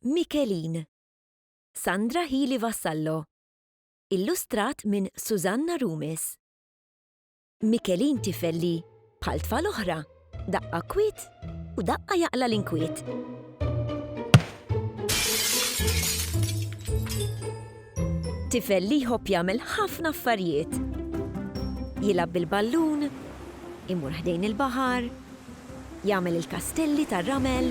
Michelin. Sandra Healy Vassallo. Illustrat minn Susanna Rumis. Michelin tifel li, bħal tfal oħra, Daqqa kwiet u daqqa jaqla' l-inkwiet. Tifel li jħobb jagħmel ħafna affarijiet. Jilgħab bil-ballun, imur ħdejn il-baħar, jagħmel il-kastelli tar-ramel.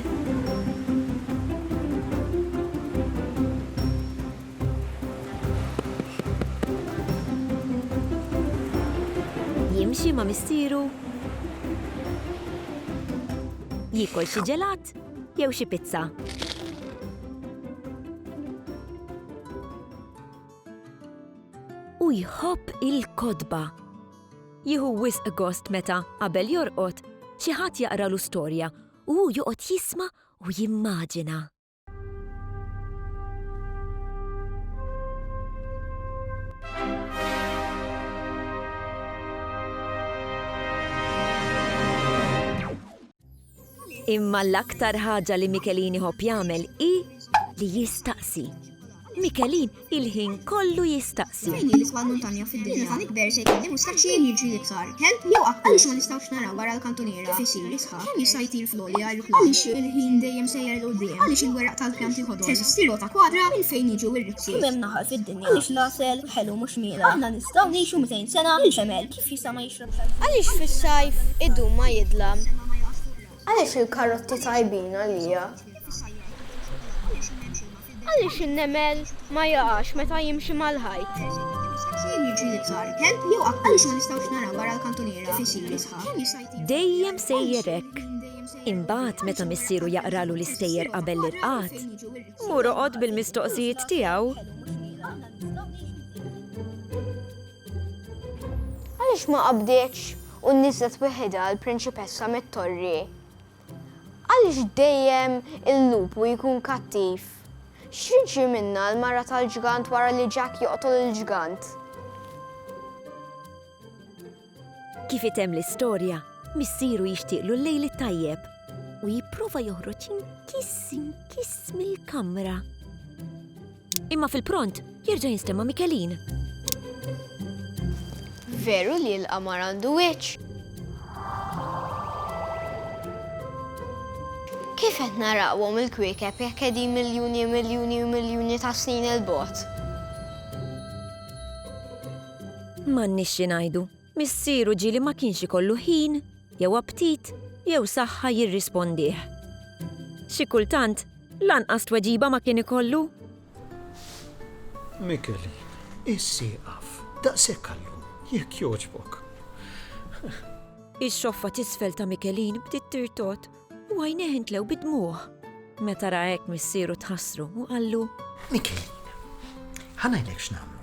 Jimxi ma' missieru? Jiekol xi ġelat jew xi pizza? U jħobb il-kotba. Jieħu wisq gost meta, qabel jorqod, xi ħadd jaqralu storja u hu joqgħod jisma' u jimmaġina. Imma l-aktar ħaġa li Michelini ħobb jagħmel hi li jistaqsi. Mikelin il-ħin kollu jistaqsi. Min hi l-isbgħa muntanja fid-dinja? Meta nikber se jkolli mustaċċi jien jiġri iktar. Kelb jew qatt għaliex ma nistgħux naraw wara l-kantuniera kif isir isħaq? Kemm jista' jtir fl-għolja l-ħlum? Għaliex il-ħin dejjem sejjer 'l quddiem? Għaliex il-weraq tal-pjanti ħodor? Teżisti rota kwadra minn fejn jiġu r-rizzi? Kemm hemm naħal fid-dinja? Għaliex l-għasel ħelu mhux miela? Aħna nistgħu ngħixu 200 sena, il-ġemel kif jista' ma jixrobx għall-ħin? Għaliex fis-sajf idum ma jidlam? Għaliex il-karotti tajbin għalija? Għaliex in-nemel ma jaqax meta jimxi mal-ħajt? Fejn jiġi l-iktar? Kelb jew qatt għaliex ma nistgħux naraw wara l-kantuniera kif isir jisħa? Dejjem sejjer hekk. Imbagħad meta missieru jaqralu l-istejjer qabel l-irqad, mur oqgħod bil-mistoqsijiet tiegħu. Għaliex ma qabdietx u nniżlet weħidha l-prinċipessa mit-torri? Għaliex dejjem il-lupu jkun kattiv? X'jiġri minnha l-mara tal-ġgant wara li Jack joqtol il-ġgant? Kif item l-istorja, missieru jixtieqlu l-lejl it-tajjeb u jipprova joħroġ inkiss inkiss mill-kamra. Imma fil-pront jerġa' jinstema' Mikelin. Veru li l-qamar għandu wiċċ? Kif qed narawhom il-kwiekeb jekk qegħdin miljuni miljuni u miljuni ta' snin il-bogħod? M'għandniex xi ngħidu. Missier u ġieli ma kienx ikollu ħin, jew aptit, jew saħħa jirrispondih. Xi kultant, lanqas tweġiba ma kien ikollu. Mikelin, issieqaf, daqshekk għal-lum, jekk jogħġbok. Ix-xoffa t'isfel ta' Mikelin bdiet tirtot. U għajnejh intlew bid-dmugħ. Meta ra hekk missieru tħassru u qallu, Mikelina, ħa ngħidlek x'nagħmlu.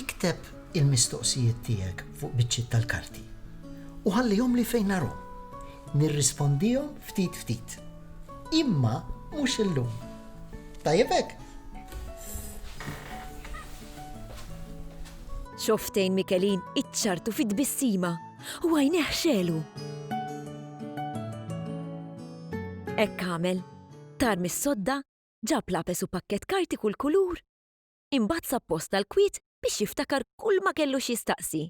Ikteb il-mistoqsijiet tiegħek fuq biċċiet tal-karti u ħallihomli fejn narhom. Nirrispondihom ftit ftit. Imma mhux illum. Tajjeb hekk? Xoftejn Mikelin iċċartu fi tbissima. U għajnejh xegħlu. Hekk għamel. Tar mis-sodda, ġab lapes u pakkett karti kull kulur. Imbagħad sab post tal-kwiet biex jiftakar kulma kellu x'jistaqsi.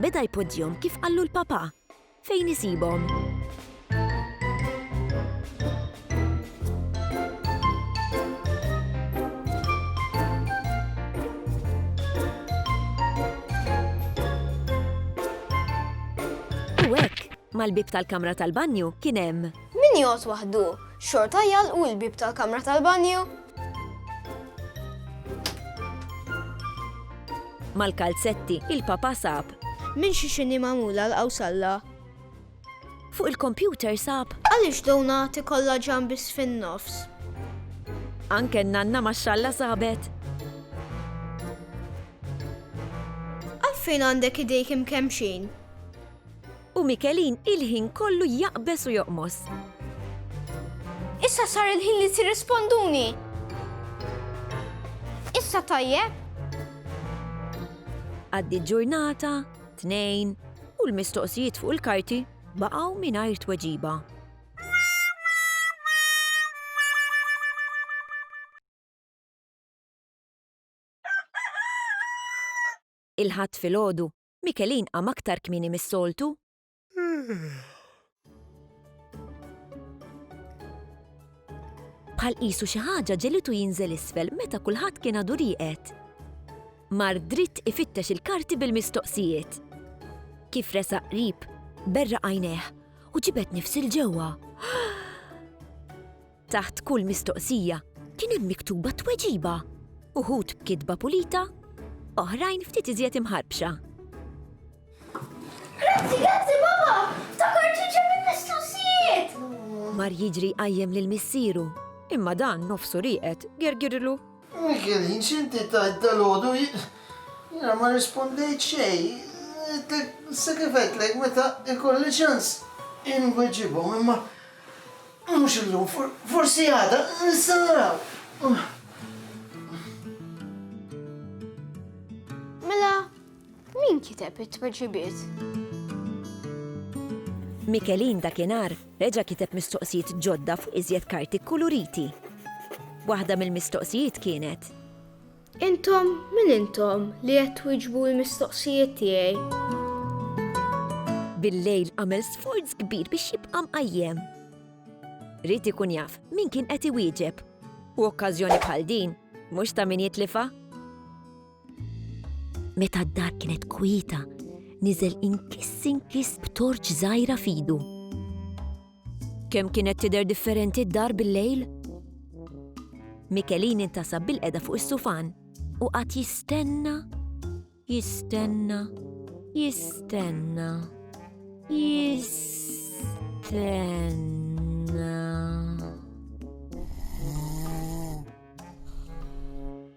Beda jpoġġihom kif qallu l-papà. Fejn isibhom? mal-bieb tal-kamra tal-banju kien hemm. Min jgħod waħdu, xorta jgħalqu l-bieb tal-kamra tal-banju? Mal-kalzetti, il-papa sab. Minn xi xini magħmula l-qawsalla. Fuq il-kompjuter sab. Għaliex donati kollha ġam biss fin-nofs? Anke n-nanna max-xalla sabet. Għalfejn għandek idejk imkemmxin? U Mikelin il-ħin kollu jaqbeż u joqmos. Issa sar il-ħin li tirrisponduni! Issa tajjeb? Għaddiet ġurnata, tnejn, u l-mistoqsijiet fuq il-karti baqgħu mingħajr tweġiba. Il-ħadd filgħodu Michelin qam aktar kmieni mis-soltu. Bħal qisu xi ħaġa ġelitu jinżel isfel meta kulħadd kien għadu rieqed. Mar dritt ifittex il-karti bil-mistoqsijiet. Kif resaq qrib, berra għajnejh u ġibed nifs il-ġewwa. Taħt kull mistoqsija kien hemm miktuba tweġiba, uħud b'kitba pulita, oħrajn ftit iżjed imħarbxa. Grazzi, grazzi, baba! Ftakart li ġab il-mistoqsijiet! Mar jiġri jqajjem lil missieru, imma dan nofsu rieqed gergirlu. Michelin, x'inti tajt dalgħodu? Jiena ma rrispondejt xejn. Għedtlek, issa kif għedtlek meta ikolli ċans inweġibhom, imma Mhux illum, forsi għada, nista' naraw. Mela, min kiteb it-tweġibiet? Mikelin dakinhar reġa' kiteb mistoqsijiet ġodda fuq iżjed karti kkuluriti. Waħda mill-mistoqsijiet kienet, Intom min intom li qed twieġbu l-mistoqsijiet tiegħi? Bil-lejl għamel sforz kbir biex jibqa' mqajjem. Ried ikun jaf min kien qed iwieġeb u okkażjoni bħal din mhux ta' min jitlifha. Meta d-dar kienet kwieta, niżel inkiss inkiss b'torċ żgħira f'idu. Kemm kienet tidher differenti d-dar bil-lejl? Mikelin intasab bil-qeda fuq is-sufan u qatt jistenna, jistenna, jistenna, jistenna.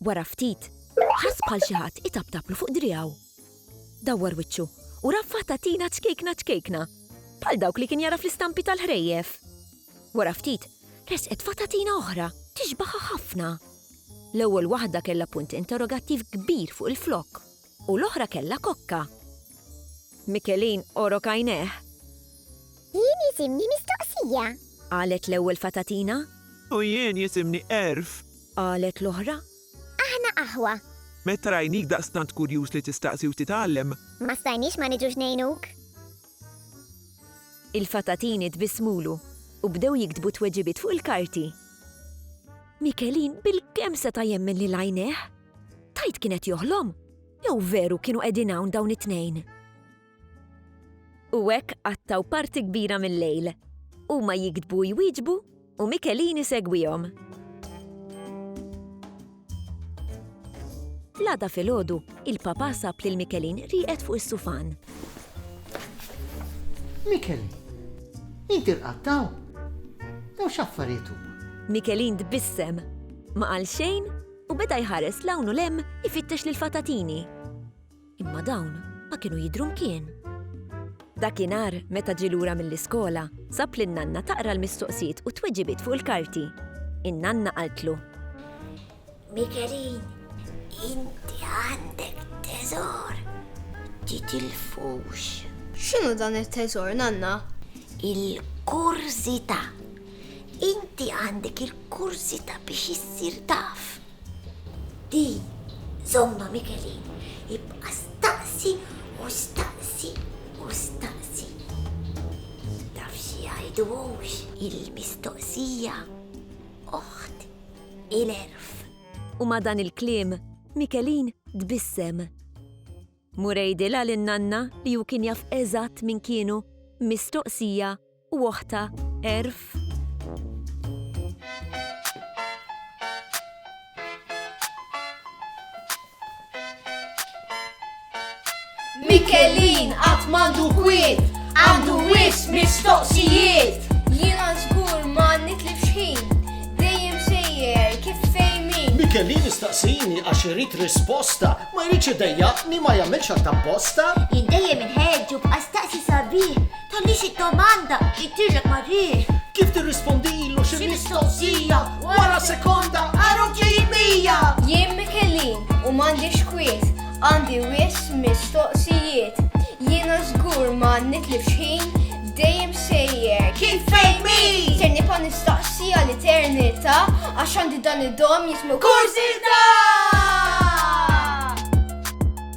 Wara ftit, ħass bħal xi ħadd itaptablu fuq driegħu. Dawwar wiċċu u ra fata tina ċkejkna ċkejkna, bħal dawk li kien jara fl-istampi tal-ħrejjef. Wara ftit, resqet fata tina oħra, tixbaħha ħafna. L-ewwel waħda kellha punt interrogattiv kbir fuq il-flokk. U l-oħra kellha kokka. Mikelin għorok għajnejh. Jien jisimni Mistoqsija. Qalet l-ewwel fatatina. U jien jisimni Għerf. Qalet l-oħra. Aħna aħwa. Meta rajnik daqstant kurjuż li tistaqsi u titgħallem. Ma stajniex ma niġux ngħinuk. Il-fatatini tbissmulu u bdew jiktbu t-tweġibiet fuq il-karti. Mikelin bilkemm seta' jemmen lil għajnejh. Tajt kien qed joħlom? Jew veru kienu qegħdin hawn dawn it-tnejn? U hekk qattaw parti kbira mill-lejl. Huma jiktbu jwieġbu u Mikelini segwihom. Lada filgħodu, il-papa sab lil Mikelin rieqed fuq is-sufan. Mikelin, inti rqattaw? Jew x'affarijiet huma? Mikelin tbissem, ma qal xejn U beda jħares 'l hawn u 'l hemm ifittex lill-fatatini. Imma dawn ma kienu jidhru mkien. Dakinhar, meta ġie lura mill-iskola, sab lin-nanna taqra l-mistoqsijiet u t-tweġibiet fuq il-karti. In-nanna qaltlu. Mikelin, inti għandek teżor. Titilfux. X'inhu dan it-teżor, nanna? Il-kurżità. Inti għandek il-kurżità biex issir taf. Di, żommha Mikelin, ibqa' staqsi u staqsi u staqsi. Taf xi jgħidu hux? Il-mistoqsija oħt il-għerf. U ma' dan il-kliem, Mikelin tbissem. Mur għidilha lin-nanna li hu kien jaf eżatt min kienu, mistoqsija u oħtha Erf. Mikelin qatt m'għandu kwiet, għandu wis mistoqsijiet. Jiena żgur ma nitlifx ħin, dejjem sejjer kif fejmin. Mikelin istaqsini għax irid risposta, ma jridx idejjaqni ma jagħmilx għal tapposta. Jien dejjem inħeġġu b'qastaqsi sabiħ Tagħmli xi domanda, jgħidilek parir. Kif tirrispondilu xi mistoqsija wara sekonda għarhom ġejjin mija. Jien Mikelin u m'għandix kwiet, għandi wisq mistoqsijiet. Jiena żgur ma nitlifx ħin, dejjem sejjer kif fejn min. Ser nibqa' nistaqsi għal eternità għax għandi dan id-dom jismu kurżità!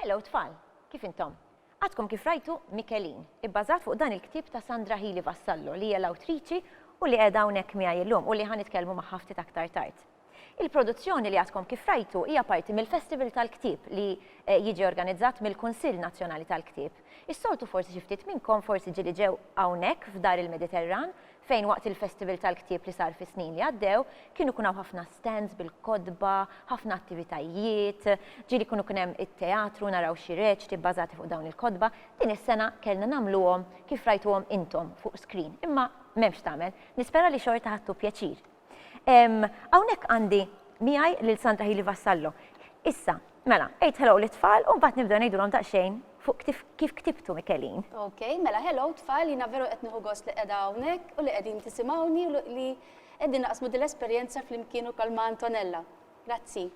Hello tfal, kif intom? Għadkom kif rajtu Mikelin, ibbażat fuq dan il-ktib ta' Sandra Hili Vassallo li hija l-awtriċi u li qiegħda hawnhekk miegħi llum u li ħan nitkellmu magħha ftit aktar tard. Il-produzzjoni li għadkom kif rajtu hija parti mill-Festival tal-Ktieb li jiġi organizzat mill-Kunsill Nazzjonali tal-Ktieb. Is-soltu forsi xi ftit minnkom forsi ġieli ġew hawnhekk f'Dar il-Mediterran fejn waqt il-Festival tal-Ktieb li sar fis-snin li għaddew kienu jkun hawn ħafna stands bil-kotba, ħafna attivitajiet, ġieli jkunu kien hemm it-teatru, naraw xi reċti bbażati fuq dawn il-kotba. Din is-sena kellna nagħmluhom kif rajtuhom intom fuq screen imma m'hemm x'tagħmel. Nispera li xorta ħadtu pjaċir. Hawnhekk għandi miegħi lil Sandra Hili Vassallo. Issa, mela, ejt hello li tfal u mbagħad nibdew ngħidulhom daqsxejn fuq kif ktibtu Mikelin. Ok, mela hello tfal, jiena veru qed nieħu gost li qiegħda hawnhekk u li qegħdin tisimgħuni u li qegħdin naqsmu din l-esperjenza flimkien ukoll ma' Antonella. Grazzi.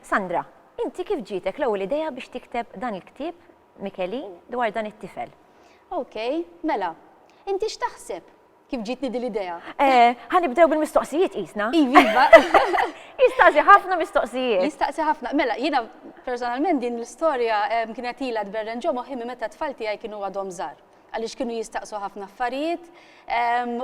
Sandra, inti kif ġietek l-ewwel idea biex tikteb dan il-ktieb Mikelin dwar dan it-tifel? Ok, mela, inti x'taħseb? Kif ġietni din l-idea? Ħa nibdew bil-mistoqsijiet qisna. Iva, iva. Jistaqsi ħafna mistoqsijiet. Jistaqsi ħafna. Mela, jiena personalment din l-istorja kienet ilha tberren ġo moħħi minn meta t-tfal tiegħi kienu għadhom żgħar. Għaliex kienu jistaqsu ħafna affarijiet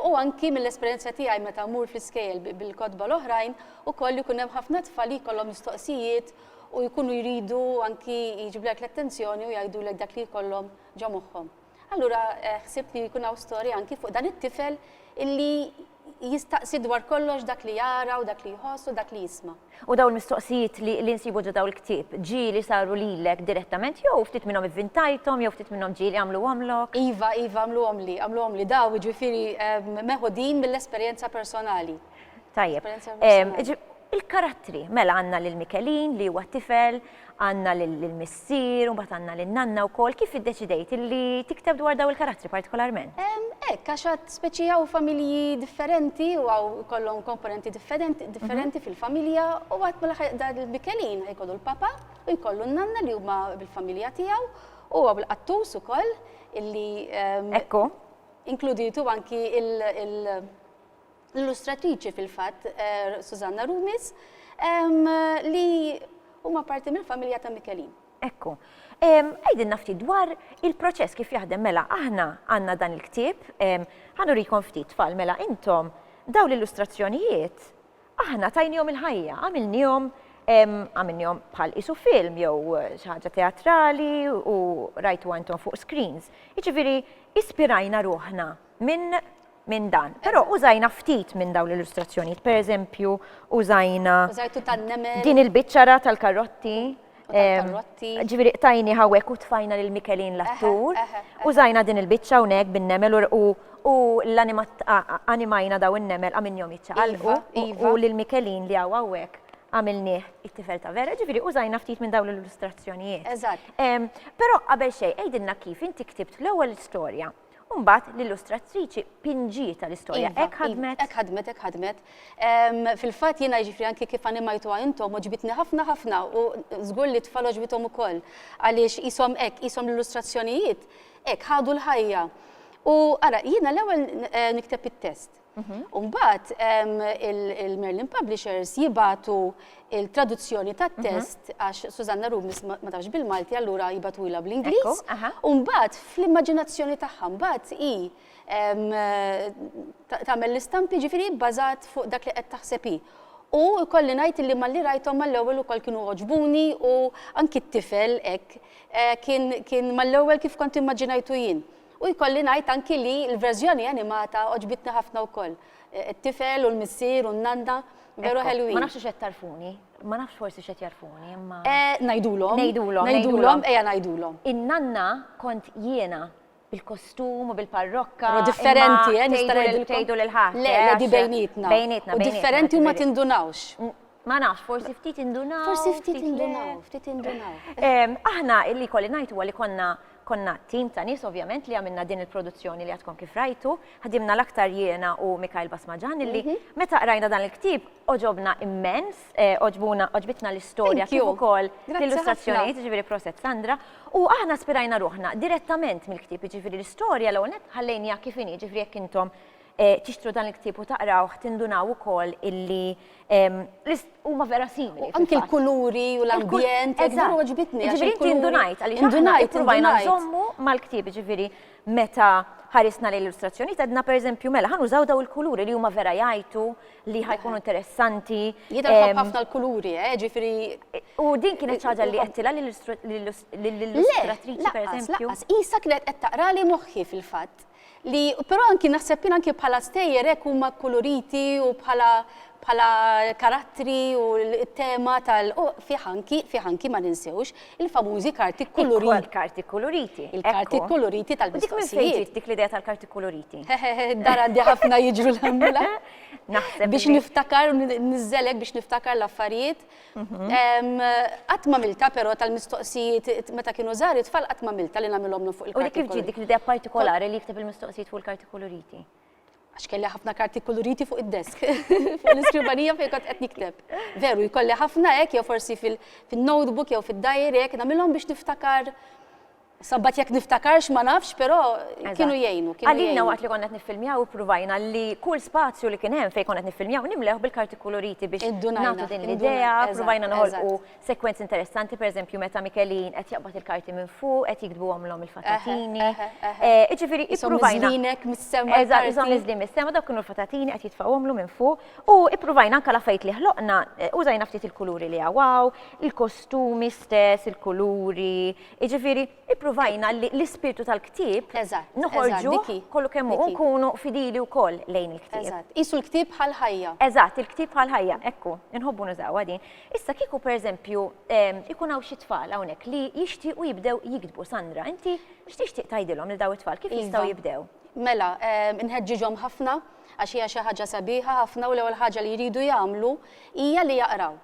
u anki mill-esperjenza tiegħi meta mmur fl-iskejjel bil-kotba l-oħrajn ukoll ikun hemm ħafna tfal li jkollhom mistoqsijiet u jkunu jridu anki jiġbdulek l-attenzjoni u jgħidulek dak li jkollhom ġo moħħhom. Allura ħsibt li jkun hawn storja anki fuq dan it-tifel illi jistaqsi dwar kollox dak li jara u dak li jħoss u dak li jisma'. U dawn il-mistoqsijiet li nsibu ġo dawn il-ktieb, ġieli saru lilek direttament jew ftit minnhom ivvintajthom jew ftit minnhom ġieli għamluhomlok? Iva, iva għamluhomli, għamluhomli dawn, jiġifieri meħudin mill-esperjenza personali. Tajjeb. Il-karattri, mela għandna lil Mikelin li huwa tifel, għandna lill-missier u mbagħad għandna lin-nanna wkoll, kif iddeċidejt illi tikteb dwar dawn il-karattri partikolarment? Hekk, għax għad speċi hawn familji differenti u hawn ikollhom komponenti differenti fil-familja u għad mill-aħħar dan il-Mikelin ħajkollu l-papa u jkollu n-nanna li huma bil-familja tiegħu u hawn il-qattus ukoll illi inkluditu anki il- l-illustratriċi fil-fatt Susanna Rumis li huma parti mill-familja ta' Mikelin. Ekku. Għajdilna ftit dwar il-proċess kif jaħdem mela aħna għandna dan il-ktieb, ħanurikom ftit tfal mela intom daw l-illustrazzjonijiet aħna tajnihom il-ħajja, għamilnihom għamilnihom bħal isu film jew xi ħaġa teatrali u rajtu għantom fuq screens. Jiġifieri ispirajna ruħna minn minn dan. Però użajna ftit minn dawn l-illustrazzjonijiet, pereżempju użajna Użajtu tan-nemel. din il-biċċara tal-karotti. U tal-karotti. em, Ġifieri qtajni hawnhekk u tfajna lil Mikelin l-attur. eħe, eħe. Użajna din il-biċċa hawnhekk bin-nemel u r- u u l-animat a- a- animajna daw in-nemel għamilnihom jiċċaqalqu Iva, u- iva. u lil Mikelin li hawn hawnhekk għamilnieh it-tifel ta' vera, ġifieri użajna ftit minn dawn l-illustrazzjonijiet. Eżatt. Em, Però qabel xejn għidilna kif inti ktibt l-ewwel storja. U mbagħad l-illustratriċi pinġieta l-istorja. Iva, hekk ħadmet. Hekk ħadmet, hekk ħadmet. Fil-fatt jiena jiġifieri anki kif animajtuha intom oġbitni ħafna ħafna u żgur li tfal oġbithom ukoll għaliex qishom hekk, qishom l-illustrazzjonijiet hekk ħadu l-ħajja. U ara, jiena l-ewwel eh, nikteb it-test. U mbagħad il-Merlin Publishers jibatu il-traduzzjoni tat-test għax Susanna Rumis ma tafx bil-Malti allura jibatuilha bl-Ingliż. U mbagħad fl-immaġinazzjoni tagħha mbagħad hi tagħmel l-istampi ġifieri bbażat fuq dak li qed taħseb hi. U jkolli ngħid li malli rajthom mal-ewwel ukoll kienu għoġbuni u anki t-tifel hekk kien mal-ewwel kif kont immaġinajtu jien. U jkolli ngħid anki li l-verżjoni animata għoġbitni ħafna wkoll. It-tifel u l-missier u n-nanna veru ħelwin. Ma nafx hux qed tagħrfuni, ma nafx forsi x'qed jagħrfuni imma. Ngħidulhom. Ngħidulhom. Ngħidulhom, ejja ngħidulhom. In-nanna kont jiena, bil-kostum u bil-parrokka. Però differenti, eh, nista' ngħidilkom. Tgħidu lil ħadd. Le, le, di bejnietna. Bejnietna. U differenti u ma tindunawx. Ma nafx, forsi ftit indunaw. Forsi ftit indunaw, ftit indunaw. Aħna li jkolli ngħid huwa li konna Konna tim ta' nies ovvjament li għamilna din il-produzzjoni li għadkom kif rajtu, ħdimna l-aktar jiena u Mikhail Basmajan illi meta qrajna dan il-ktieb għoġobna immens, għoġbuna, għoġbitna l-istorja kif ukoll l-illustrazzjonijiet, jiġifieri proset Sandra, u aħna spirajna ruħna direttament mill-ktieb, jiġifieri l-istorja l-ewwel nett ħallejniha kif inhi, jiġifieri jekk intom tixtru dan il-ktieb u taqrawh tindunaw ukoll illi huma vera simili. Anki l-kuluri u l-ambjent, vera għoġbitni. Ġifieri inti indunajt għaliex indunajt ippruvajna nżommu mal-ktieb, ġifieri meta ħarisna lejn l-illustrazzjonijiet għedna pereżempju mela ħa nużaw daw il-kuluri li huma vera jgħidu li ħajkunu interessanti. Jidher ħabb ħafna l-kuluri, eh, ġifieri. U din kienet ħaġa li qedtilha lill-illustratriċi pereżempju. Laqqas, laqqas, isa kienet qed taqrali moħħi fil-fatt. Li però anki naħseb jien anki bħala stejjer hekk huma kkuluriti u bħala bħala karattri u t-tema tal u fih anki fih anki ma ninsewx il-famużi karti kkuluriti. Il-karti kkuluriti. Il-karti kkuluriti tal-mistoqsijiet. Dik minn fejn dik l-idea tal-karti kkuluriti? Dar għandi ħafna jiġru l-ħamdulillah. Naħseb. Biex niftakar u niżżelek biex niftakar l-affarijiet. Qatt m'għamiltha però tal-mistoqsijiet meta kienu żgħar it-tfal qatt m'għamiltha li nagħmilhom fuq il-karti. U li kif ġiet dik l-idea partikolari li jikteb il-mistoqsijiet fuq il-karti kuluriti? Għax kelli ħafna karti kuluriti fuq id-desk, fuq l-iskrivanija fejn kont qed nikteb. Veru, jkolli ħafna hekk jew forsi fin-notebook jew fid-diary hekk nagħmilhom biex niftakar Sabbat jekk niftakarx ma nafx, però kienu jgħinu. Għalina waqt li konna qed niffilmjaw ippruvajna li kull spazju li kien hemm fejn konna qed niffilmjaw nimlew bil-karti koloriti biex nagħtu din l-idea, provajna noħolqu sekwenzi interessanti, pereżempju meta Mikelin qed jaqbad il-karti minn fuq, qed jiktbuhom l-hom il-fatatini. Iġifieri ippruvajna. Żlinek mis-sema. Eżatt, iżomm iż-żlien mis-sema, dawk kienu l-fatatini qed jitfgħuhomlu minn fuq u ippruvajna anke l-affarijiet li ħloqna użajna ftit il-kuluri li hawn, il-kostumi stess, il-kuluri, Jiġifieri, ippruvajna li l-ispirtu tal-ktieb noħorġuh kollu kemm hu u nkunu fidili wkoll lejn il-ktieb. Qisu l-ktieb bħal ħajja. Eżatt, il-ktieb bħal ħajja, hekk hu. Inħobbu nużawha din. Issa, kieku pereżempju jkun hawn xi tfal hawnhekk li jixtiequ jibdew jiktbu, Sandra, inti x'tixtieq tgħidilhom lil dawn it-tfal? Kif jistgħu jibdew? Mela, inħeġġiġhom ħafna għax hija xi ħaġa sabiħa ħafna u l-ewwel ħaġa li jridu jagħmlu hija li jaqraw.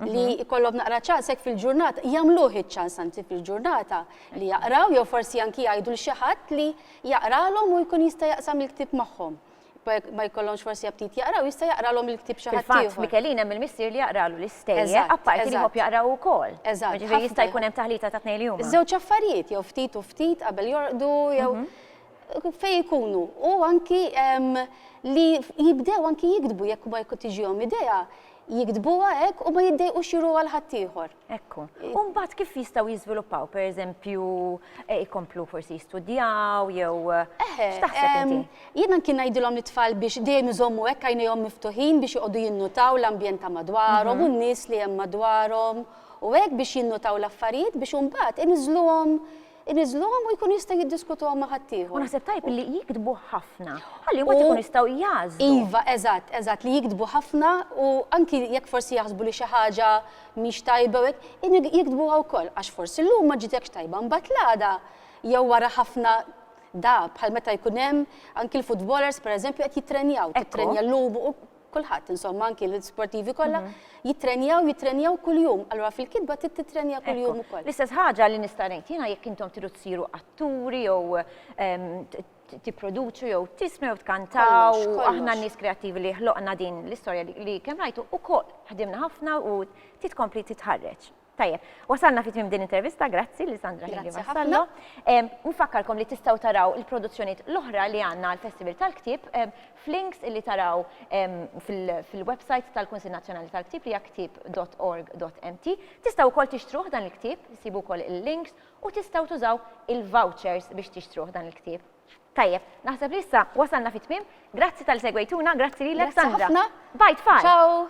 li mhm. jkollhom naqra ċans hekk fil-ġurnata, jagħmluh iċ-ċans anzi fil-ġurnata li jaqraw jew forsi anki jgħidu l xi ħadd li jaqralhom u jkun jista' jaqsam il-ktieb magħhom ma jkollhomx forsi aptit jaqraw, jista' jaqralhom il-ktib xi ħadd ieħor. Mikelin hemm il-missier li jaqralu l-istejja, apparti li hop jaqraw ukoll. Eżatt. Ġifieri jista' jkun hemm taħlita ta' tnejn li huma. Żewġ affarijiet jew ftit u ftit qabel jorqdu jew mhm. fej ikunu u anki li jibdew anki jikdbu jekk ma jkun tiġihom idea jiktbuha hekk u ma jiddejqux juruha għal ħaddieħor. Ekku. U mbagħad kif jistgħu jiżviluppaw, pereżempju, eh, ikomplu forsi jistudjaw jew eh, x'taħseb inti? Jiena kien ngħidilhom it-tfal biex dejjem iżommu hekk għajnejhom miftuħin biex joqogħdu jinnutaw l-ambjent ta' madwarhom mhm. u n-nies li hemm madwarhom u hekk biex jinnutaw l-affarijiet biex imbagħad iniżluhom iniżżluhom u jkun jista' jiddiskutuhom ma' ħaddieħor. U naħseb tajjeb li jiktbu ħafna, ħalli mbagħad ikunu jistgħu jagħżlu. Iva, eżatt, eżatt, li jiktbu ħafna u anki jekk forsi jaħsbu li xi ħaġa mhix tajba u hekk, jiktbuha wkoll għax forsi llum ma ġietx tajba mbagħad l-għada jew wara ħafna dahab bħal meta jkun hemm anki l-futbolers pereżempju qed jittrenjaw, tittrenja llum u kulħadd insomma anki l-sportivi kollha mhm. jittrenjaw, jittrenjaw kuljum. Allura fil-kitba trid tittrenja kuljum ukoll. L-istess ħaġa li nista' ngħid jiena jekk intom tridu tsiru atturi jew ehm, tipproduċu jew tismi jew tkantaw, aħna n-nies kreattivi li ħloqna din l-istorja li kemm rajtu ukoll ħdimna ħafna u titkompli titħarreġ. Tajjeb, wasalna fi tmim din intervista, grazzi li Sandra Hegli Vassallo. Nfakkarkom li tistaw taraw il-produzzjoniet l-oħra li għanna għal-Festival tal-Ktib f'links li taraw fil-website tal-Kunsil Nazzjonali tal-Ktib li ktib.org.mt. Tistaw ukoll tixtruh dan il-ktib, sibu ukoll il-links u tistaw tużaw il-vouchers biex tixtruh dan il-ktib. Tajjeb, naħseb li issa wasalna fit-tmiem. Grazzi tal segwejtuna, grazzi lilek Sandra. Bye tfal. Ciao.